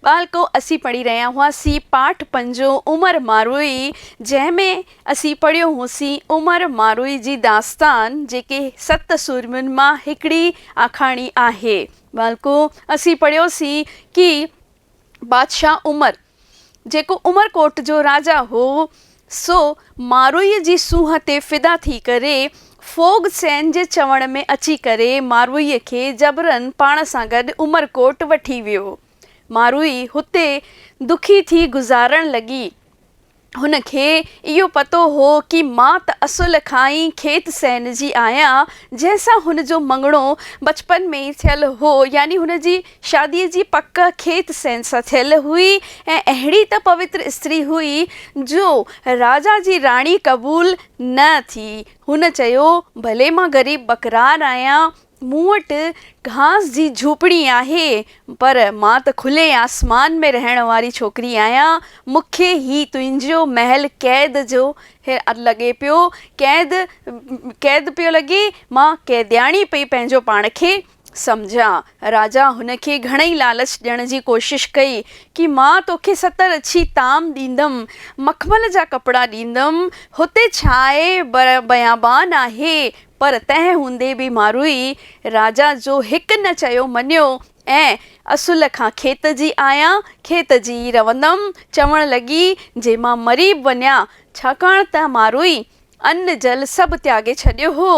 ٻالڪو اسين پڙهي رهيا هئاسين پاٺ پنجون عمر ماروئي جنهن ۾ اسين پڙهيو هوسين عمر ماروئي جي داستان جيڪي ست سورمين مان هڪڙي آکاڻي آهي. ٻالڪو اسين پڙهيوسين ڪي بادشاهه عمر جيڪو عمر ڪوٽ جو راجا هو سو ماروئيء جي سونهن تي فدا ٿي ڪري، ڦوڳ سين جي چوڻ ۾ اچي ڪري ماروئيء کي جبرن پاڻ سان گڏ عمرڪوٽ وٺي ويو. ماروئي هتي دکي ٿي گذارڻ لڳي. هن کي اهو پتو هو ڪي مان ته اصل کان ئي کيت سين جي آهيان، جنهن سان هن جو مڱڻو بچپن ۾ ئي ٿيل هو، يعني هن جي شاديء جي پڪ کيت سين سان ٿيل هئي ۽ اهڙي ته پوتر استري هئي جو راجا جي راڻي قبول نه ٿي. هن چيو، ڀلي مان غريب ٻڪرار آهيان، مون وٽ گهاس جي جهوپڙي آهي، پر مان ته کلي آسمان ۾ رهڻ واري ڇوڪري آهيان، مون کي هي تنهنجو محل قيد جو لڳي پيو، قيد قيد پيو لڳي، مان قيدياڻي پئي پنهنجو پاڻ کي. سمجهيان. راجا هن کي گهڻئي لالچ ڏيڻ جي ڪوشش ڪئي ڪي مان توکي ستر اڇي طعام ڏيندم، مخمل جا ڪپڙا ڏيندم، هتي ڇا آهي بر بيابان آهي، پر تنهن هوندي به ماروئي راجا جو هڪ نه چيو مڃيو ۽ اصل کان کيت جي آهيان، کيت جي ئي رهندم، چوڻ لڳي جي مان مري به وڃان، ڇاڪاڻ ته ماروئي ان جل سڀ تياڳي ڇڏيو هو،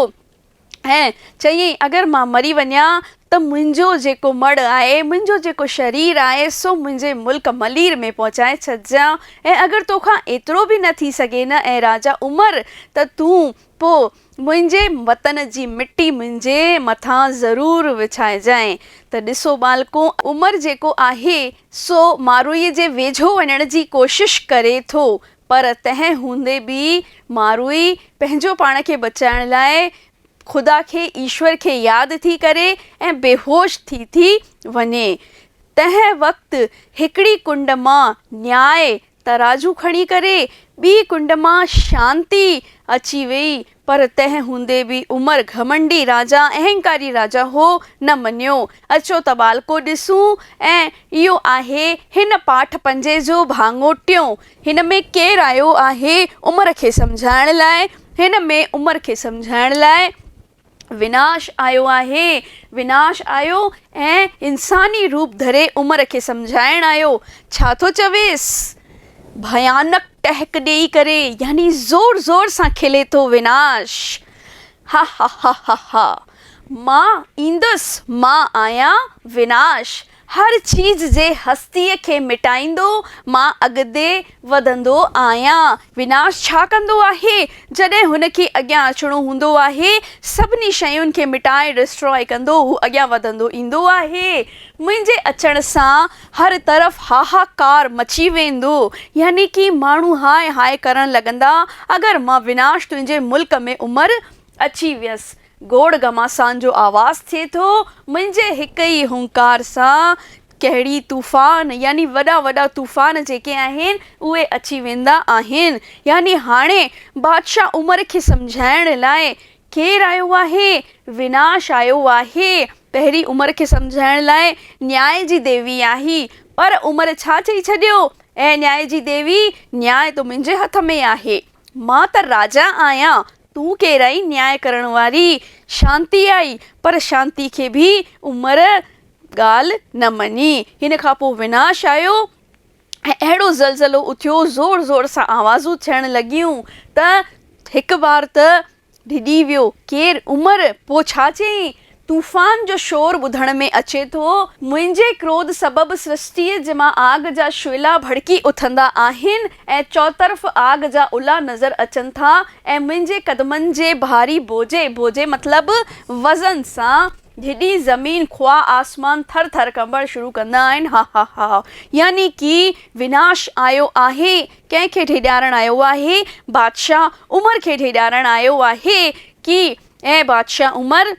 ۽ چيائين، اگر مان مري وڃان ته منهنجو جيڪو مڙهه آهي، منهنجو جيڪو شرير آهي، سو منهنجي ملڪ ملير ۾ پهچائي ڇڏجان، ۽ اگر تو کان ايترو به نه ٿي سگهي نه اي راجا عمر، ته تون پوء منهنجي وطن جي مٽي منهنجي مٿان ضرور وڇائجانء. ته ڏسو ٻالڪو! عمر جيڪو آهي، سو ماروئيء جي ويجهو وڃڻ جي ڪوشش ڪري ٿو، پر تنهن هوندي به ماروئي پنهنجو پاڻ کي بچائڻ لاء خدا کي، ايشور کي، ياد ٿي ڪري ۽ بيهوش ٿي ٿي وڃي. تنهن وقت هڪڙي ڪنڊ مان نياء، ترازو، کڻي ڪري ٻي ڪنڊ مان شانتي اچي ويئي پر تنهن هوندي به عمر گهمنڊي راجا، اهنڪاري راجا، هو نه مڃيو. اچو ته ٻالڪو ڏسون ۽ اهو آهي هن پاٺ پنجين جو ڀاڱو ٽيون. هن ۾ ڪير آيو آهي عمر کي سمجهائڻ لاء؟ هن ۾ عمر کي سمجهائڻ لاء وناش آيو آهي. وناش آيو ۽ انساني روپ ڌري عمر کي سمجهائڻ آيو. ڇا ٿو چويس؟ ڀيانڪ ٽهڪ ڏيئي ڪري يعني زور زور سان کلي ٿو ويناش، ههههههه مان ايندس مان آهيان ويناش هر چيز جي هستيء کي مٽائيندو مان اڳتي وڌندو آهيان. ويناش ڇا ڪندو آهي جڏهن هن کي اڳيان اچڻو هوندو آهي سڀني شين کي مٽائي Destroy ڪندو هو اڳيان وڌندو ايندو آهي منهنجي اچڻ سان. هر طرف هاهاڪار مچي ويندو، يعني ڪي ماڻهو هاء هاء ڪرڻ لڳندا، اگر مان وناش تنهنجي ملڪ ۾ امر اچي ويس. گوڙ گهماسان جو آواز ٿئي ٿو، منهنجي هڪ ئي هونڪار سان ڪهڙي طوفان، يعني وڏا وڏا طوفان جيڪي آهن، اهي اچي ويندا آهن. يعني هاڻي بادشاهه امر کي سمجهائڻ لاء کير آيو آهي، وناش آيو آهي. پهرين عمر کي سمجهائڻ لاء نياء جي ديوي آئي، پر عمر ڇا چئي ڇڏيو، اي نياء جي ديوي، نياء ته منهنجي هٿ ۾ آهي. مان ته راجا آهيان، تون ڪير آهين نياء ڪرڻ واري؟ شانتي آئي، پر شانتي کي به عمر ڳالهه نه مڃي. هن کان پوء وناش آيو. ۽ اهڙو زلزلو اٿيو، زور زور سان آوازون ٿيڻ لڳيون ته هڪ بار ته ڊڄي ويو ڪير، عمر پوء ڇا چئين، طوفان جو شور ٻڌڻ ۾ اچي ٿو، منهنجي ڪروڌ سبب سرشٽيء مان آگ جا شعلا ڀڙڪي اٿندا آهن ۽ چؤطرف آگ جا الا نظر اچن ٿا ۽ منهنجي قدمن جي ڀاري بوجي، بوجي مطلب وزن، سان ڌڏي زمين خواه آسمان ٿر ٿر ڪنبڻ شروع ڪندا آهن هاهاهاهه يعني ڪي وناش آيو آهي ڪنهن کي ڊيڄارڻ آيو آهي بادشاهه عمر کي ڊيڄارڻ آيو آهي ڪي اي بادشاهه عمر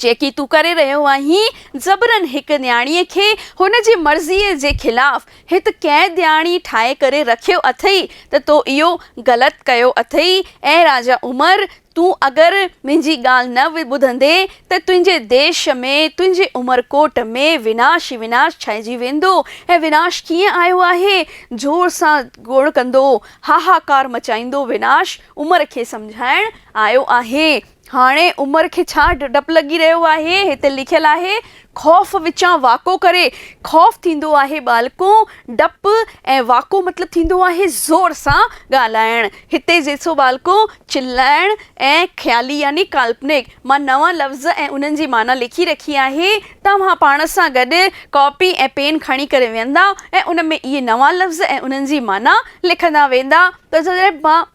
جيڪي تون ڪري رهيو آهين زبرن هڪ نياڻي کي هن جي مرضي جي خلاف هت قيدياڻي ٺاهي ڪري رکيو اٿئي ته تو اهو غلط ڪيو اٿئي اي راجا عمر تون اگر منهنجي ڳالهه نه ٻڌندين ته تنهنجي ديش ۾ تنهنجي عمرڪوٽ ۾ وناش ئي وناش ڇائنجي ويندو ۽ وناش ڪيئن آيو آهي زور سان گوڙ ڪندو هاهاڪار مچائيندو وناش عمر کي سمجهائڻ آيو آهي هاڻي عمر کي ڇا ڊپ لڳي رهيو آهي هتي لکيل آهي خوف وچان واڪو ڪري، خوف ٿيندو آهي ٻالڪو ڊپ ۽ واڪو مطلب ٿيندو آهي زور سان ڳالهائڻ. هتي ذيسو ٻالڪو چلائڻ ۽ خيالي يعني ڪالپنڪ مان نوان لفظ ۽ انهن جي معنيٰ لکي رکي آهي. توهان پاڻ سان گڏ ڪاپي ۽ پين کڻي ڪري ويهندا ۽ ان ۾ اهي نوان لفظ ۽ انهن جي معنيٰ لکندا ويندا ته جڏهن مان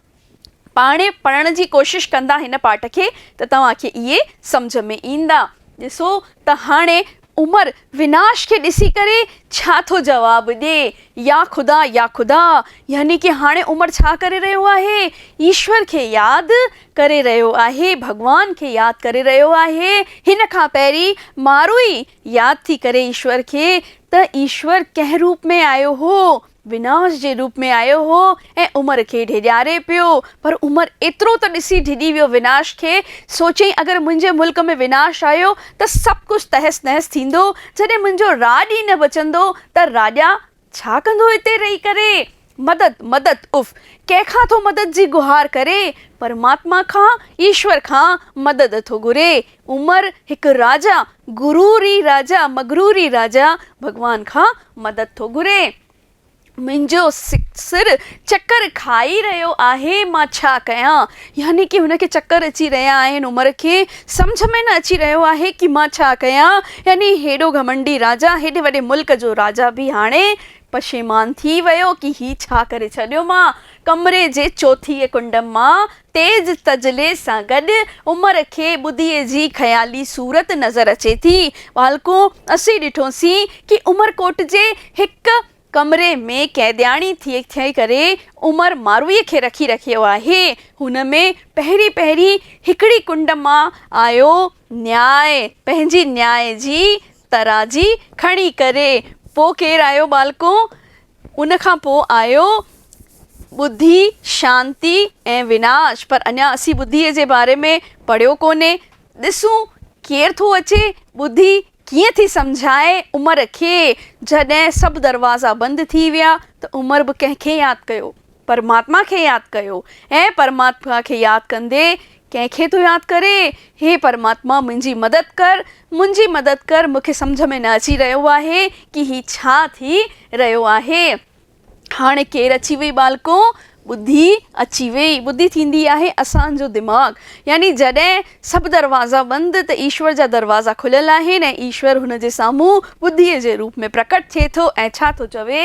پاڻهي پڙهڻ جي ڪوشش ڪندا هن پاٽ کي ته توهان کي اهي سمجهه ۾ ايندا. ڏسو ته هاڻي عمر ويناش کي ڏسي ڪري ڇا ٿو جواب ڏي، يا خدا يا خدا، يعني ڪي هاڻي عمر ڇا ڪري رهيو آهي؟ ايشور کي ياد ڪري رهيو آهي، ڀڳوان کي ياد ڪري رهيو آهي. هن کان پهرين ماروئي ياد ٿي ڪري ايشور کي ته ايشور ڪنهن روپ ۾ آيو هو. وناس جي روپ ۾ آيو هو ۽ عمر کي ڊيڄاري پيو. پر عمر ايترو ته ڏسي ڊڄي ويو وناس کي. سو چيائين اگر منهنجي ملڪ ۾ وناس آيو ته سڀ ڪجهه تهس نهس ٿيندو. جڏهن منهنجو راڄ ئي نه بچندو ته راڄا ڇا ڪندو هتي رهي ڪري. مدد مدد اف! ڪنهن کان ٿو مدد جي گهار ڪري. پرماتما کان، ايشور کان، مدد ٿو گهري. عمر هڪ راجا، غروري راجا، مغروري راجا، ڀڳوان کان مدد ٿو گهري. منهنجو سر چڪر کائي رهيو آهي، مان ڇا ڪيان؟ يعني ڪي هن کي چڪر اچي رهيا آهن، عمر کي سمجهه ۾ نه اچي رهيو آهي ڪي مان ڇا ڪيان؟ يعني هيڏو گهمنڊي راجا، هيڏي وڏي ملڪ جو راجا به هاڻي پشيمان ٿي ويو ڪي هي ڇا ڪري ڇڏيو مان؟ ڪمري جي چوٿينء ڪنڊ مان تيز تجلي سان گڏ عمر کي ٻڌيء جي خيالي صورت نظر اچي ٿي. ٻالڪون، اسين ڏٺوسين ڪي عمرڪوٽ جي هڪ ڪمري ۾ قيدياڻي ٿي ٿي ڪري عمر ماروئي کي رکي رکيو آهي. هن ۾ پهرين پهرين هڪڙي ڪنڊ مان آيو نياء، پنهنجي نياء جي ترازي کڻي ڪري. پوء ڪير آيو ٻالڪون؟ ان کان پوء آيو ٻڌي، شانتي ۽ وناش. پر اڃا اسين ٻڌيء جي باري ۾ پڙهيو ڪونهي. ڏسون ڪير ٿو اچي. ٻڌي ڪيئن ٿي سمجهائي عمر کي. جڏهن سڀ دروازا بند ٿي ويا ته عمر به ڪنهن کي ياد ڪيو. پرماتما کي ياد ڪيو، اي پرماتما کي ياد ڪندي، ڪنهن کي ٿو ياد ڪري؟ هي پرماتما منهنجي مدد ڪر، منهنجي مدد ڪر، مون کي سمجهه ۾ نه اچي رهيو آهي ڪي هي ڇا ٿي رهيو آهي. هاڻي ڪير اچي وئي ٻالڪو؟ ٻڌي اچي وئي. ٻڌي ٿيندي آهي اسان جو دماغ. يعني جڏهن سڀ دروازا بند ته ايشور جا دروازا کليل آهن ۽ ايشور هن جي سامهون ٻڌيء جي روپ ۾ پرڪٽ ٿئي ٿو ۽ ڇا ٿو چوي؟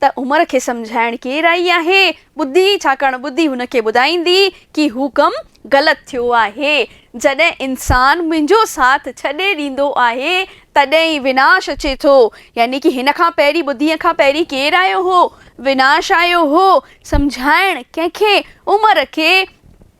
ته عمر کي سمجهائڻ ڪير آئي آهي؟ ٻڌي، ڇاڪاڻ ٻڌي هن کي ٻڌائيندي ڪي هو ڪم غلط ٿيو آهي. جڏهن انسان منهنجو ساٿ ڇڏي ڏيندو آهي، تڏهن ئي وناش اچي ٿو. يعني ڪي هن کان پهرين ٻڌيء کان پهرين ڪير آيو هو؟ وناش آيو هو. سمجهائڻ ڪنهن کي؟ عمر کي.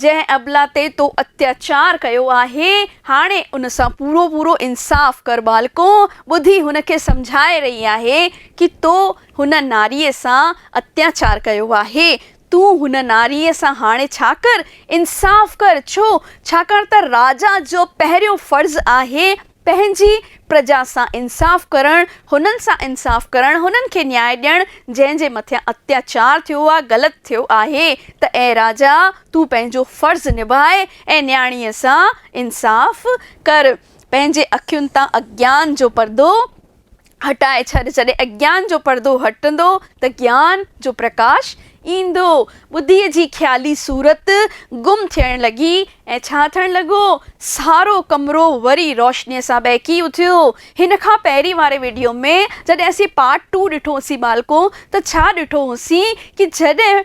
جنهن ابله تي تو اتياچار ڪيو آهي، هاڻي ان سان پورو پورو انصاف ڪر ٻالڪو! ٻڌي هن کي سمجهائي رهي آهي ڪي تو هن ناريء سان اتياچار ڪيو آهي. تون هن ناريء سان هاڻي ڇا ڪر؟ انصاف ڪر! ڇو؟ ڇاڪاڻ ته راجا جو پهريون فرض آهي پنهنجي پرجا سان انصاف ڪرڻ، هنن سان انصاف ڪرڻ، هنن کي نياء ڏيڻ، جنهن جي مٿيان اتياچار ٿيو آ، غلط ٿيو آهي، ته اي راجا! تون پنهنجو فرض نڀاء ۽ نياڻيء سان انصاف ڪر. پنهنجي اکين تان اگيان جو پردو هٽائي ڇڏ، جڏهن اجيان جو پردو هٽندو ته گيان جو پرڪاش ايندو. ٻڌيء جي خيالي صورت گم ٿيڻ لڳي ۽ ڇا ٿيڻ لڳو؟ سارو ڪمرو وري روشنيء سان ٻهڪي اٿيو. هن کان پهرين واري وڊيو ۾ جڏهن اسين پارٽ ٽو ڏٺو هوسين ٻالڪو ته ڇا ڏٺو هوسين ڪي جڏهن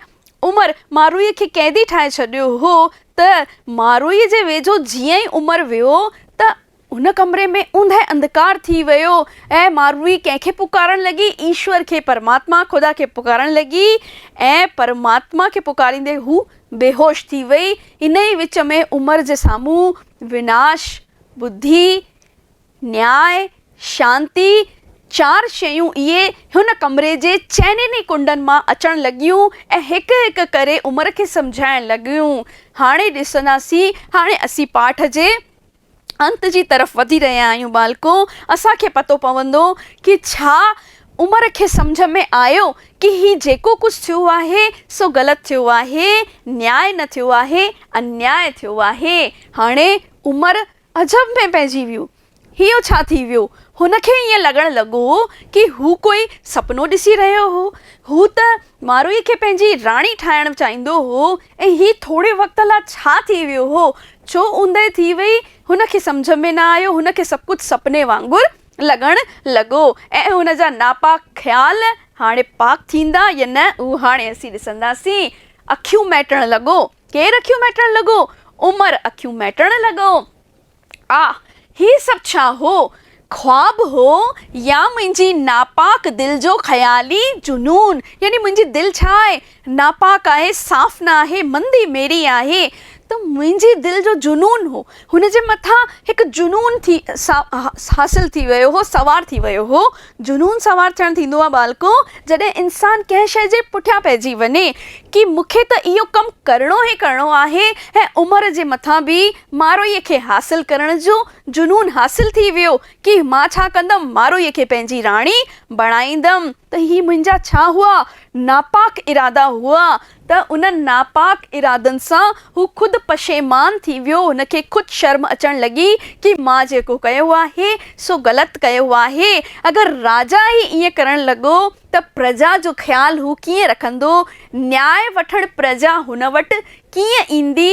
عمر ماروئي کي قيدي ٺاهي ڇڏيو هو ته ماروئي جي ويجهو جيئن ئي عمر ويو ته هن ڪمري ۾ اوندهه انڌڪار ٿي ويو ۽ ماروي ڪنهن کي پڪارڻ لڳي؟ ايشور کي، پرماتما، خدا کي پڪارڻ لڳي ۽ پرماتما کي پڪاريندي هوء بيهوش ٿي وئي. انهيء وچ ۾ عمر جي سامهون وناش، ٻڌي، نياء، شانتي، چار شيون اهي هن ڪمري جي چئنين ئي ڪنڊن مان اچڻ لڳيون ۽ هڪ هڪ ڪري عمر کي سمجهائڻ لڳيون. هاڻي ڏسنداسين هاڻي اسين پاٺ جي. انت جي طرف وڌي رهيا آهيون ٻالڪو اسان کي پتو پوندو ڪي ڇا عمر کي سمجهه ۾ آيو ڪي هي جيڪو ڪجهه ٿيو آهي سو غلط ٿيو آهي نياء نه ٿيو آهي انياء ٿيو آهي هاڻي عمر عجب ۾ پئجي ويو هيو ڇا ٿي ويو هن کي ائين لڳڻ لڳو ڪي هو ڪوئي سپنو ڏسي رهيو هو هو ته ماروئي کي پنهنجي راڻي ٺاهڻ چاهيندو هو ۽ هي ٿوري وقت لا ڇا ٿي ويو هو؟ ڇو اوندهه ٿي وئي؟ هن کي سمجهه ۾ نه آيو. هن کي سڀ ڪجهه سپني وانگر لڳڻ لڳو ۽ هن جا ناپاڪ خيال هاڻي پاڪ ٿيندا يا نه اهو هاڻي اسين ڏسنداسين. اکيون مهٽڻ لڳو. ڪير اکيون مهٽڻ لڳو؟ عمر اکيون مهٽڻ لڳو. آ، هي سڀ ڇا هو؟ خواب هو يا منهنجي ناپاڪ دل جو خيالي جنون؟ يعني منهنجي دل ڇا آهي؟ ناپاڪ آهي، صاف نه آهي، مندي ميري آهي ته منهنجي دل جو جنون هو. هن جي مٿان هڪ جنون ٿي حاصل ٿي ويو هو، سوار ٿي ويو هو. جنون سوار ٿيڻ ٿيندو آهي ٻالڪو، جڏهن انسان ڪنهن شيء جي پٺيان پئجي وڃي، ڪي مون کي ته اهو ڪم ڪرڻو ئي ڪرڻو آهي ۽ عمر جي مٿان به ماروئي کي حاصل ڪرڻ جو جنون حاصل ٿي ويو ڪي مان ڇا ڪندم ماروئي کي پنهنجي راڻي بڻائيندم ته هي منهنجا ڇا هئا ناپاڪ ارادا هئا ته انهن ناپاڪ ارادن سان هو خود پشيمان ٿي ويو هن کي خود شرم اچڻ لڳي ڪي مان جيڪو ڪيو آهي سو غلط ڪيو آهي اگر راجا ئي ائين ڪرڻ لڳو ته پرجا جو خيال هو ڪيئن رکندو، نياء وٺڻ پرجا هن وٽ ڪيئن ايندي،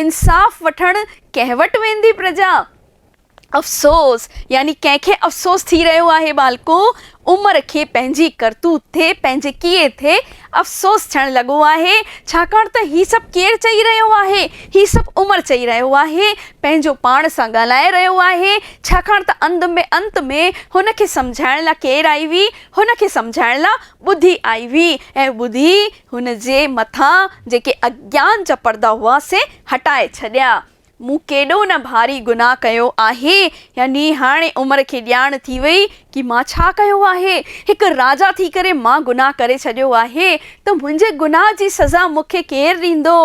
انصاف وٺڻ ڪنهن وٽ ويندي پرجا؟ افسوس، يعني ڪنهن کي افسوس ٿي رهيو آهي ٻالڪو! عمر کي پنهنجي ڪرتوت تي، پنهنجي ڪيئي تي افسوس ٿيڻ لڳو آهي، ڇاڪاڻ ته هي سڀ ڪير چئي رهيو آهي؟ هي سڀ عمر چئي رهيو آهي، پنهنجو پاڻ سان ڳالهائي رهيو آهي، ڇاڪاڻ ته انت ۾ هن کي سمجهائڻ لا ڪير آئي هئي؟ هن کي سمجهائڻ لاء ٻڌي آئي هئي ۽ ٻڌي هن جي مٿان جيڪي اگيان جا پردا هئا سي هٽائي ڇڏيا. مون ڪيڏو نه ڀاري گناهه ڪيو آهي. يعني هاڻي عمر کي ڄاڻ ٿي وئي ڪي مان ڇا ڪيو آهي. هڪ راجا ٿي ڪري مان گناهه ڪري ڇڏيو آهي ته منهنجي گناهه جي سزا مون کي ڪير ڏيندو.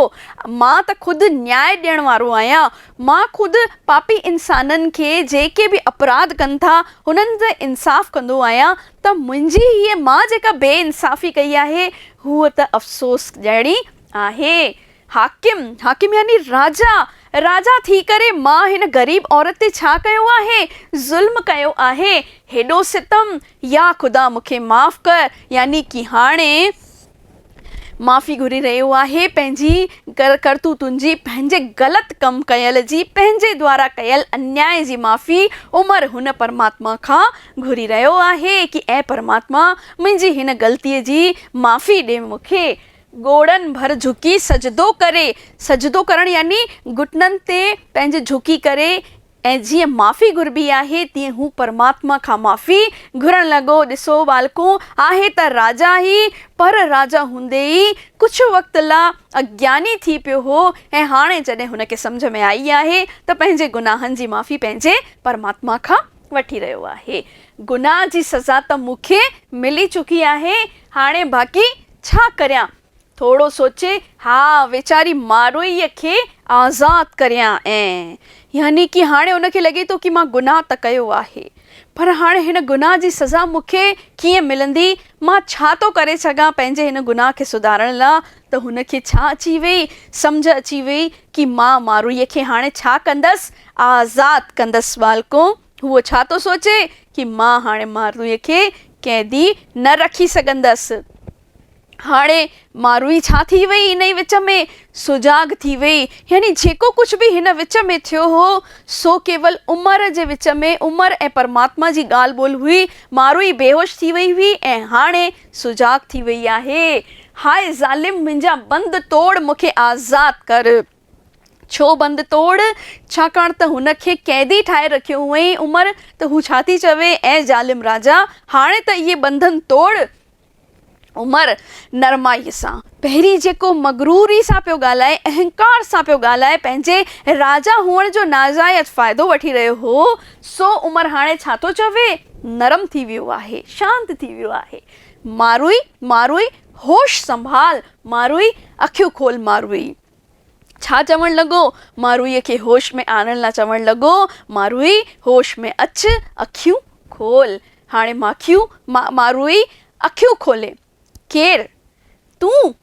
مان ته خود نياء ڏيڻ وارو آهيان. مان خود پاپي انسانن کي جيڪي به اپراڌ ڪن ٿا هنن تي انصاف ڪندو آهيان ته منهنجي هيء مان جيڪا بي انصافي ڪئي آهي هوء ته افسوس جهڙي آهي. حاڪم، حاڪم يعني راجا، راجا ٿي ڪري مان هن غريب عورت تي ڇا ڪيو آهي؟ ظلم ڪيو آهي؟ هيڏو ستم؟ يا خدا مون کي معاف ڪر يعني ڪي هاڻي. معافي گهري رهيو آهي پنهنجي ڪرتوتن جي پنهنجي غلط ڪم ڪيل جي پنهنجي دوارا ڪيل انياء جي معافي عمر هن پرماتما کان گهري رهيو آهي ڪي اي پرماتما منهنجي هن غلطي جي معافي ڏي مون کي ڳوڙهن ڀر جهڪي سجدو ڪري سجدو ڪرڻ يعني گهٽنن تي پنهنجي جهڪي ڪري ۽ جيئن معافي گهربي آهي تيئن هو پرماتما کان معافي گهرڻ لڳو. ڏسو ٻالڪو، آهي ته راجا ئي، پر راجا هوندي ئي ڪجهه وقت لا اگياني ٿي پيو هو ۽ هاڻي جڏهن هن کي سمجهه ۾ آئي آهي ته پنهنجي گناهن جي معافي پنهنجي پرماتما کان وٺي رهيو آهي. گناهه جي سزا ته مون کي ملي چڪي آهي، هاڻي باقي ڇا ڪريان؟ ٿورو سوچي، ها، ويچاري ماروئيء کي آزاد ڪريان ۽ يعني ڪي هاڻي ان کي لڳي ٿو ڪي مان گناهه ته ڪيو آهي، پر هاڻي هن گناهه جي سزا مون کي ڪيئن ملندي؟ مان ڇا ٿو ڪري سگهان پنهنجي هن گناهه کي سڌارڻ لا؟ ته هن کي ڇا اچي ويئي؟ سمجهه اچي ويئي ڪي مان ماروئيء کي هاڻي ڇا ڪندس؟ آزاد ڪندس، ٻالڪو! هو ڇا ٿو سوچي ڪي مان هاڻي مارويء کي قيدي نه رکي سگهندس. هاڻي ماروي ڇا ٿي وئي انهي وچ ۾ سجاڳ ٿي وئي. يعني جيڪو ڪجهه به هن وچ ۾ ٿيو هو سو ڪيول عمر جي وچ ۾ عمر ۽ پرماتما جي ڳالهه ٻولهه هئي. ماروي بيهوش ٿي وئي هئي ۽ هاڻي سجاڳ ٿي وئي آهي. هاء ظالم منهنجا بند ٽوڙ مون کي آزاد ڪر. ڇو بند توڙ؟ ڇاڪاڻ ته هن کي قيدي ٺاهي رکيو هئائين. عمر، ته هو ڇا ٿي چوي؟ اي ظالم راجا! هاڻي ته اهي بنڌن توڙ. عمر، نرمائيء سان، پهرين جيڪو مغروريء سان پيو ڳالهائي، اهنڪار سان پيو ڳالهائي، پنهنجي راجا هئڻ جو ناجائز فائدو وٺي رهيو هو، سو عمر هاڻي ڇا ٿو چوي؟ نرم ٿي ويو آهي، شانت ٿي ويو آهي. ماروئي، ماروئي، هوش سنڀال! ماروئي، اکيون کول! ماروئي! ڇا چوڻ لڳو؟ ماروئيء کي هوش ۾ آڻڻ لاء چوڻ لڳو، ماروئي، هوش ۾ اچ، اکيون کول. هاڻي ماکيون، ماروئي، اکيون کولي. ڪير؟ تون؟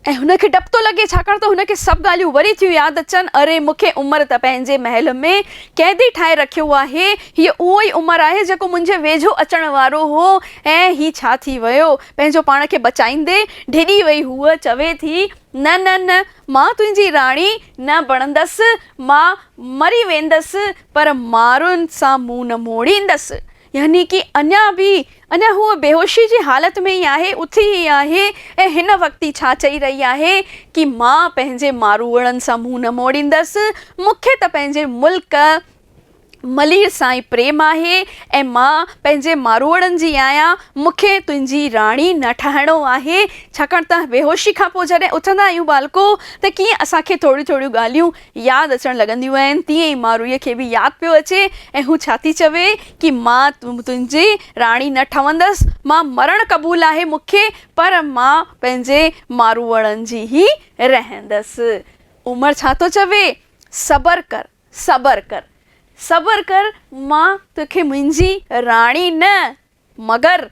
۽ هن کي ڊپ ٿو لڳي، ڇاڪاڻ ته هن کي سڀ ڳالهيون وري ٿيون ياد اچن، اري! مون کي عمر ته پنهنجي محل ۾ قيدي ٺاهي رکيو آهي. هيء اهو ئي عمر آهي، جيڪو منهنجي ويجهو اچڻ وارو هو. ۽ هي ڇا ٿي ويو؟ پنهنجو پاڻ کي بچائيندي، ڊڄي وئي هوء چوي ٿي، نه نه نه مان تنهنجي راڻي نه بڻندس، مان مري ويندس پر مارئن سان منهن نه موڙيندس. يعني ڪي اڃا به اڃا هوء بيهوشي جي حالت ۾ ئي آهي، اٿي ئي آهي ۽ هن وقت ئي ڇا چئي رهي آهي ڪي مان پنهنجي ماروئڙن سان منهن نه موڙيندس، مون کي ته پنهنجي ملڪ ملير سائين پريم آهي ۽ مان پنهنجي ماروئڙن جي آهيان، مون کي تنهنجي راڻي نه ٺاهڻو آهي، ڇاڪاڻ ته بيهوشي کان پوء جڏهن اٿندا آهيون ٻالڪو ته ڪيئن اسان کي ٿوريون ٿوريون ڳالهيون ياد اچڻ لڳنديون آهن، تيئن ئي ماروئيء کي به ياد پيو اچي ۽ هو ڇا ٿي چوي ڪي مان تنهنجي راڻي نه ٺهندس، مان مرڻ قبول آهي مون کي پر مان پنهنجي ماروئڙن جي ئي رهندس. عمر ڇا ٿو چوي؟ صبر ڪر. صبر ڪر صبر ڪر مان توکي منهنجي راڻي نه مگر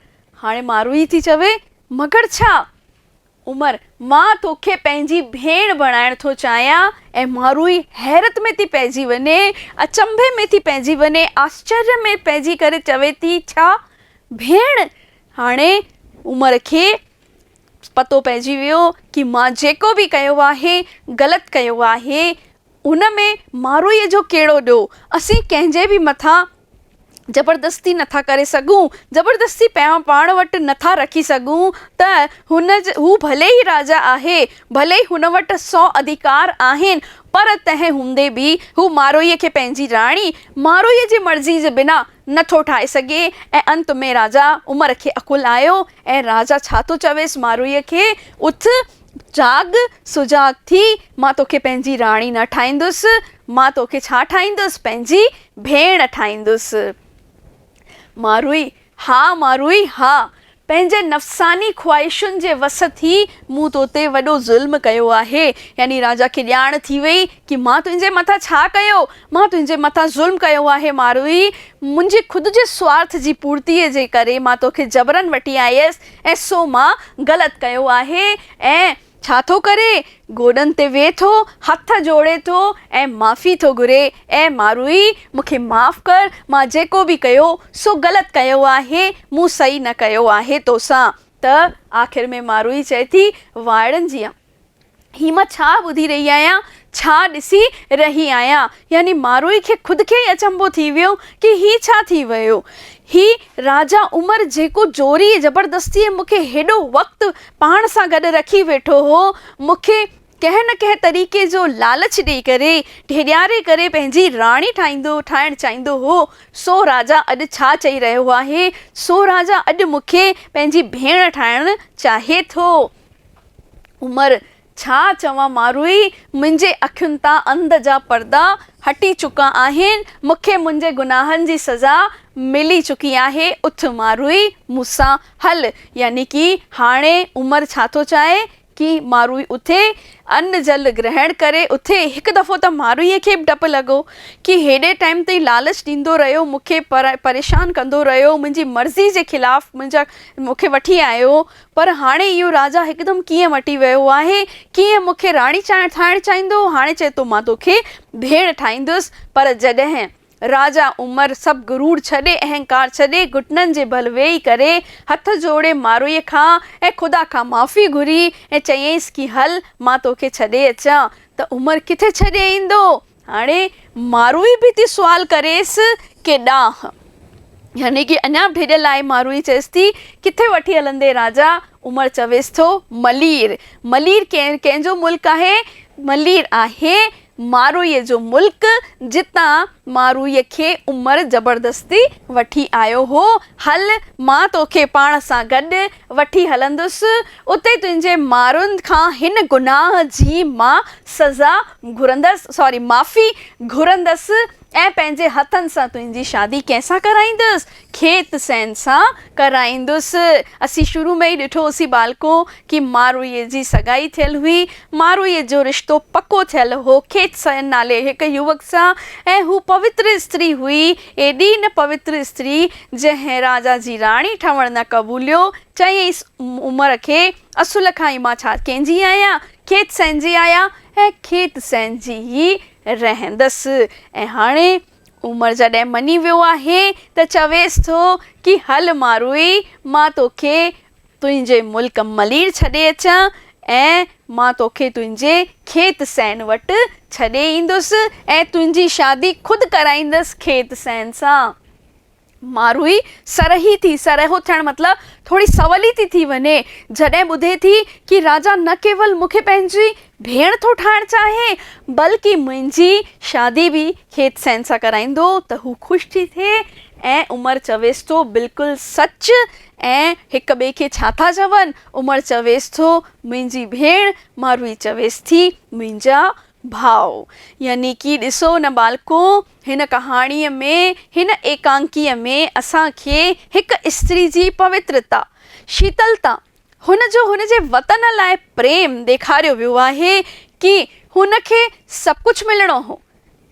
هاڻي ماروئي ٿي چوي مگر ڇا؟ عمر مان توکي پنهنجي ڀيڻ بڻائڻ ٿو چاهيان ۽ ماروئي حيرت ۾ ٿي پئجي وڃي اچنڀي ۾ ٿي پئجي وڃي آشچريه ۾ پئجي ڪري چوي ٿي ڇا ڀيڻ؟ هاڻي عمر کي پتو پئجي ويو ڪي مان جيڪو به ڪيو آهي غلط ڪيو آهي هن ۾ ماروئيء جو ڪهڙو ڏوهه؟ اسين ڪنهن جي به مٿان زبردستي نه ٿا ڪري سگهون، زبردستي پيا پاڻ وٽ نه ٿا رکي سگهون ته هن هو ڀلي ئي راجا آهي، ڀلي ئي هن وٽ سؤ اڌيڪار آهن، پر تنهن هوندي به هو ماروئيء کي پنهنجي راڻي، ماروئيء جي مرضيء جي بنا، نه ٿو ٺاهي سگهي ۽ انت ۾ راجا عمر کي عقل آيو ۽ راجا ڇا ٿو چويس ماروئيء کي، اٿ! جاڳ سجاڳ ٿي، مان توکي پنهنجي راڻي نه ٺاهيندس، مان توکي ڇا ٺاهيندس، پنهنجي ڀيڻ ٺاهيندس. ماروئي، ها ماروئي ها، پنهنجي نفساني خواهشن جي وس ٿي مون تو تي وڏو ظلم ڪيو آهي. يعني راجا کي ڄاڻ ٿي ويئي ڪي مان تنهنجي مٿان ڇا ڪيو، مان تنهنجي مٿان ظلم ڪيو آهي ماروئي، منهنجي خود جي سوارٿ جي پورتيء جي ڪري مان توکي جبرن وٺي آيس، اي سو مان غلط ڪيو آهي ۽ ڇا ٿو ڪري؟ گوڏن تي ويهي ٿو، هٿ جوڙي ٿو ۽ معافي ٿو گهري، اي ماروئي! مون کي معاف ڪر، مان جيڪو به ڪيو، سو غلط ڪيو آهي، مون صحيح نه ڪيو آهي توسان. ته آخر ۾ ماروئي چئي ٿي، وائڙن جيان! هي مان ڇا ٻڌي رهي آهيان، ڇا ڏسي رهي آهيان؟ يعني ماروئي کي خود کي ئي اچنڀو ٿي ويو ڪي هي ڇا ٿي ويو. هي راجا عمر جيڪو زوريء زبردستيء مون کي هيڏو وقت پاڻ سان گڏ رکي ويٺو هو، مون کي ڪنهن نه ڪنهن طريقي جو لالچ ڏئي ڪري، ڍيڏياري ڪري پنهنجي راڻي ٺاهيندو ٺاهڻ چاهيندو هو، سو راجا اڄ ڇا چئي رهيو آهي، سو راجا اڄ مون کي پنهنجي ڀيڻ ٺاهڻ چاهي ٿو. عمر، ڇا چوان ماروئي، منهنجي اکين تان انڌ جا پردا هٽي چڪا آهن، مون کي منهنجي گناهن جي سزا ملي چڪي آهي، اٿ ماروئي، مون سان هل. يعني ڪي هاڻي عمر ڇا ٿو چاهي؟ ڪي ماروئي اٿي، ان جل گرهڻ ڪري اٿي. هڪ دفعو ته ماروئي کي به ڊپ لڳو. ڪي هيڏي ٽائيم تائين لالچ ڏيندو رهيو، مون کي پريشان ڪندو رهيو، منهنجي مرضي جي خلاف منهنجا مون کي وٺي آيو، پر هاڻي اهو راجا هڪدم ڪيئن مٽي ويو آهي؟ ڪيئن مون کي راڻي ٺاهڻ چاهيندو؟ هاڻي چئي ٿو مان تو کي ڀيڻ ٺاهيندس. پر جڏهن راجا عمر سڀ غرور ڇڏي، اهنڪار ڇڏي، گهٽنن جي ڀل ويهي ڪري، هٿ جوڙي ماروئيء کان ۽ خدا کان معافي گهري ۽ چيائينس ڪي هل مان تو کي ڇڏي اچان ته عمر ڪٿي ڇڏي ايندو؟ هاڻي ماروئي به ٿي سوال ڪريس ڪي ڏانهن؟ يعني ڪي اڃا به ڊڄل آهي. ماروئي چيس ٿي، ڪٿي وٺي هلندين راجا؟ عمر چويس ٿو، ملير. ملير ڪنهن جو ملڪ آهي؟ ملير آهي ماروئي جو ملڪ، جتان ماروئي کي عمر زبردستي وٺي آيو هو. هل، مان توکي پاڻ سان گڏ وٺي هلندس، اتي تنهنجي مارن کان هن گناهه جي مان سزا گهرندس، ساري معافي گهرندس ۽ پنهنجي هٿن سان تنهنجي شادي ڪنهن سان ڪرائيندس؟ کيت سين سان ڪرائيندس. اسين شروع ۾ ئي ڏٺو هوسين ٻالڪو ڪي ماروئي جي سگائي ٿيل هئي. ماروئي جو رشتو پڪو ٿيل هو کيت سين نالي هڪ يوڪ سان ۽ هو پوتر استري هئي. ايڏي نه پوتر استري، جنهن راجا جي راڻي ٺهڻ نه قبوليو، چيائينس، عمر کي، اصل کان ئي مان ڇا ڪنهنجي آهيان؟ کيت سهنجي آهيان ۽ کيت سهنجي ئي رهندس. ۽ هاڻي عمر جڏهن مڃي ويو آهي ته چويس ٿو ڪي هل ماروئي، مان توکي تنهنجي ملڪ ملير ڇڏي اچان ۽ مان توکي تنهنجي کيت سين وٽ ڇڏي ايندس ۽ تنهنجي شادي خود ڪرائيندس کيت سين سان. ماروئي سرهي ٿي، سرهو ٿيڻ مطلب ٿوري سولي ٿي ٿي وڃي، جڏهن ٻڌي ٿي ڪي راجا نه ڪيول مون کي پنهنجي ڀيڻ ٿو ٺاهڻ چاهي، بلڪ منهنجي شادي به کيت سين سان ڪرائيندو ته هو خوش ٿي ٿئي ۽ عمر چويس ٿو بلڪل سچ ۽ هڪ ٻئي کي ڇا ٿا چون؟ عمر چويس ٿو منهنجي ڀيڻ، ماروي چويس ٿي منهنجا ڀاء. يعني ڪي ڏسو نه ٻالڪو، هن ڪهاڻيء ۾، هن ايڪانڪيء ۾، اسان کي هڪ استري جي پوترتا، شيتلتا، هن جو هن جي وطن لاء پريم ڏيکاريو ويو آهي، ڪي هن کي سڀ ڪجهه ملڻو هو،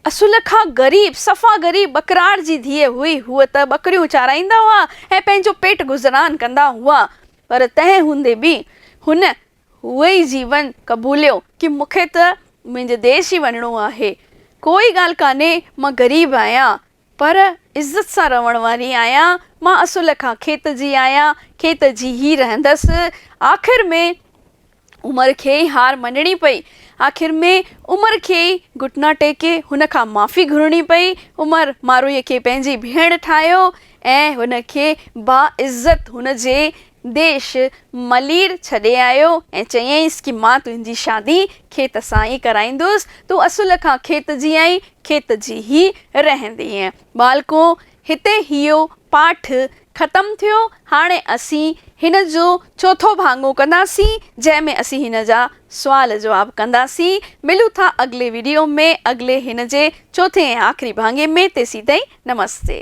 اصل کان غريب، صفا غريب ٻڪراڙ جي ڌيء هئي. هوء ته ٻڪريون چارائيندا هئا ۽ پنهنجو پيٽ گذران ڪندا هئا، پر تنهن هوندي به هن اهو ئي جيون قبوليو ڪي مون کي ته منهنجي ديس ئي وڃڻو آهي. ڪوئي ڳالهه ڪانهي، مان غريب آهيان، پر عزت سان رهڻ واري آهيان. مان اصل کان کيت جي آهيان، کيت جي ئي رهندس. آخر ۾ عمر کي ئي هار مڃڻي پئي. آخر ۾ عمر کي ئي گهٽنا ٽيڪي هن کان معافي گهرڻي پئي. عمر ماروئيء کي پنهنجي ڀيڻ ٺاهيو ۽ هن کي باعزت هن جي ديش ملير ڇڏي آيو ۽ چيائينس ڪي مان تنهنجي شادي کيت سان ئي ڪرائيندس. تون اصل کان کيت جي آهين، کيت جي ئي رهندينء. ٻالڪو هتي هيو پاٺ ختم ٿيو هاڻي اسين هن جو چوٿو ڀاڱو ڪنداسين جنهن ۾ اسين هن جا سوال جواب ڪنداسين ملون ٿا اڳلي ويڊيو ۾ اڳلي هن جي چوٿين ۽ آخري ڀاڱي ۾ تيسين تائين نمستي.